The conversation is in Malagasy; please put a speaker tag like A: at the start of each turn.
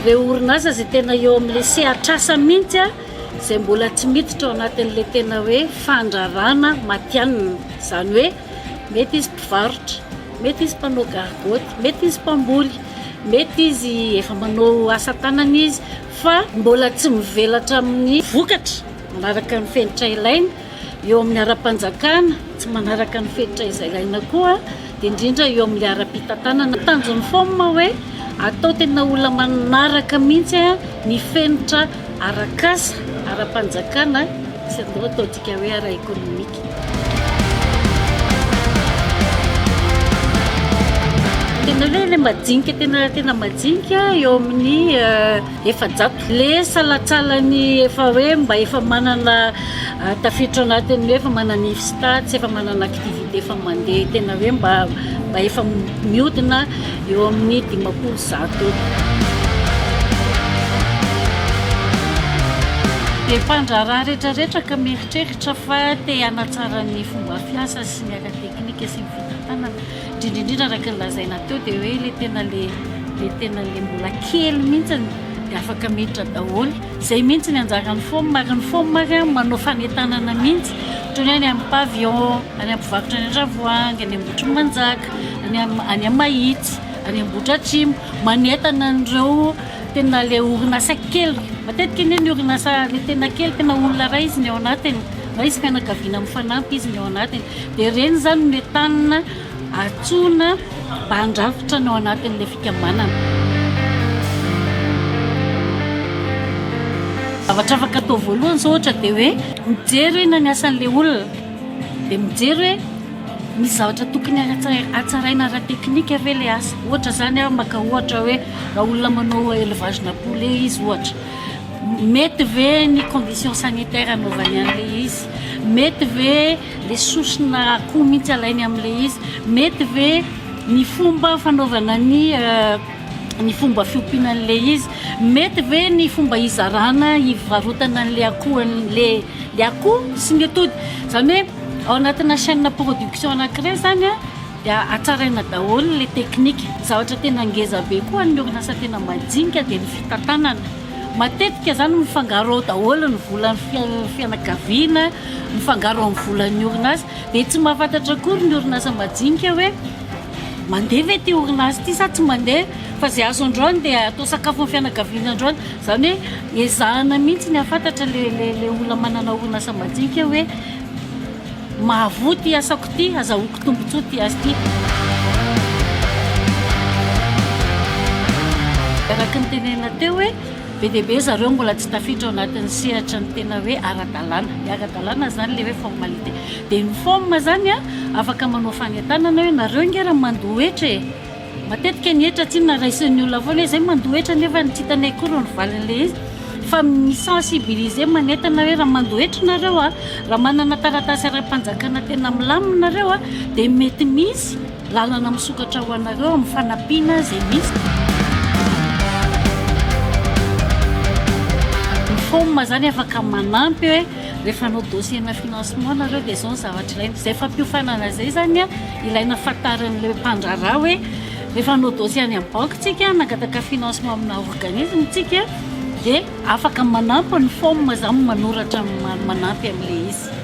A: Ireo orinasa izay tena eo amin'ilay sehatr'asa mihitsy izay mbola tsy miditra ao anatin'ilay tena hoe fandrarana matianina. Izany hoe mety izy mpivarotra, mety izy mpanao gargotte, mety izy mpamboly, mety izy efa manao asa tanana izy. fa mbola tsy mivelatra amin'ny vokatra manaraka ny fenitra ilaina eo amin'ny ara-panjakana, tsy manaraka ny fenitra izay ilaina koa indrindra eo amin'ny ara-pitantanana. Tanjon'ny fom hoe atao tena olona manaraka mihitsy ny fenitra ara-kasa, ara-panjakana sy atao dika hoe ara-ekonomika. Tena hoe ilay majinika tena tena majinika eo amin'ny eh, efajato. Le salatsalany efa hoe mba efa manana eh, tafiditra anatin'ny hoe efa manana if stats, efa manana activité efa mandeha tena hoe mba mba efa miodina eo amin'ny dimampolo zato eo. Dia mpandraharaha rehetrarehetra ka mieritreritra. Tra fa te hanatsara ny fomba fiasa sy ny aka teknika sy ny fitantanana, indrindra indrindra araka ny lazaina teo dia hoe ilay tena le le tena ilay mbola kely mihitsy dia afaka miditra daholo, izay mihitsy ny anjaran'ny fom ary ny fom ary an manao fanentanana mihitsy toy ny hoe any amin'ny pavillon, any amin'ny mpivarotra any Andravoahangy, any Ambohitrimanjaka, any amin'ny mahitsy, any Ambohidratrimo manentana an'ireo Tena ilay orinasa kely, matetika anie ny orinasa le tena kely tena olona iray izy ny ao anatiny na izy fianakaviana mifanampy izy ny ao anatiny dia ireny izany no entanina antsoina mba handrafitra ny ao anatin'ilay fikambanana. Zavatra afaka atao voalohany izao ohatra dia hoe mijery hoe na ny asan'ilay olona dia mijery hoe misy zavatra tokony hatsaraina ara-teknika ve ilay asa, ohatra izany aho maka ohatra hoe. Raha olona manao élevage na poulet izy ohatra, mety ve ny condition sanitaire anaovany an'ilay izy? Mety ve le sosona akoho mihitsy alainy amin'ilay izy? Mety ve ny fomba fanaovana ny ny fomba fiompiana an'ilay izy? Mety ve ny fomba hizarana, hivarotana an'ilay akoho an'ilay ilay akoho sy ny atody? Izany hoe ao anatina chaîne production anankiray izany a. dia hatsaraina daholo ilay teknika. Ny zavatra tena ngeza be koa amin'ny orinasa tena majinika dia ny fitantanana. Matetika izany mifangaro ao daholo ny volan'ny fianakaviana, mifangaro amin'ny volan'ny orinasa. Dia tsy mahafantatra akory ny orinasa majinika hoe mandeha ve ity orinasa ity sa tsy mandeha. Fa izay azo androany dia atao sakafon'ny fianakaviana androany. Izany hoe ezahana mihitsy ny hahafantatra ilay olona manana orinasa majinika hoe. Mahavoa ty asako ty, azahoako tombotsoa ty asa ty. Araka ny tenenina teo hoe be dia be zareo mbola tsy tafiditra ao anatin'ny sehatra ny tena hoe ara-dalàna. Ny ara-dalàna izany ilay hoe formalité. Dia ny forme izany an, afaka manao fanentanana hoe nareo ange raha mandoa hetra e! Matetika ny hetra tsinona raisin'ny olona foana hoe zay mandoa hetra nefa tsy hitanay akory ny valin'ilay izy fa mi sensibiliser manentana hoe raha mandoa hetra nareo a raha manana taratasy ara-panjakana tena milamina nareo a dia mety misy lalana misokatra ho anareo amin'ny fanampiana izay misy ny fom zany afaka manampy hoe Rehefa hanao dossier-na financement nareo dia izao ny zavatra ilaina. Izay fampiofanana izay izany an, ilaina fantarin'ilay mpandraharaha hoe rehefa hanao dossier any amin'ny banky tsika, hanangataka financement amina organisme tsika dia afaka manampy ny forme izany manoratra manampy an'ilay izy.